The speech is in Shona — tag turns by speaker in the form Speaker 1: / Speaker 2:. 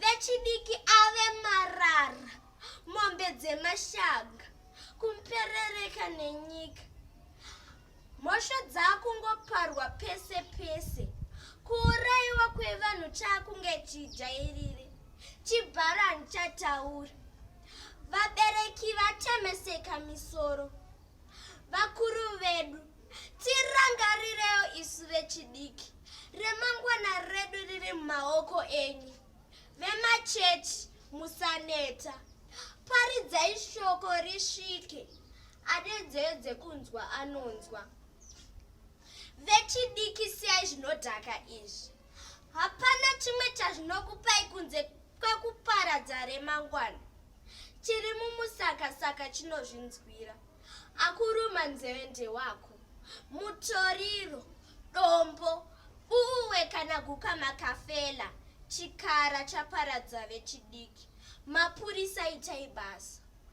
Speaker 1: vechidiki ave marara mombe dzemashanga kumperereka nenyika mhosva dzakungoparwa pese pese kuurayiwa kwevanhu chakunge chijairire chibharani chataura vabereki vatemeseka misoro vakuru vedu Tirangarirewo isu vechidiki, remangwana redu riri mumaoko enyu. Vemachechi musaneta, paridzai shoko risvike, ane nzeve dzekunzwa anonzwa. Vechidiki siyai zvinodhaka izvi, hapana chimwe chazvinokupai kunze kwekuparadza remangwana. Chiri mumusakasaka chinozvinzwira. Akuruma nzeve ndewako. Mutoriro, dombo, buwe kana guka makafela. Chikara chaparadza vechidiki. Mapurisa itai basa.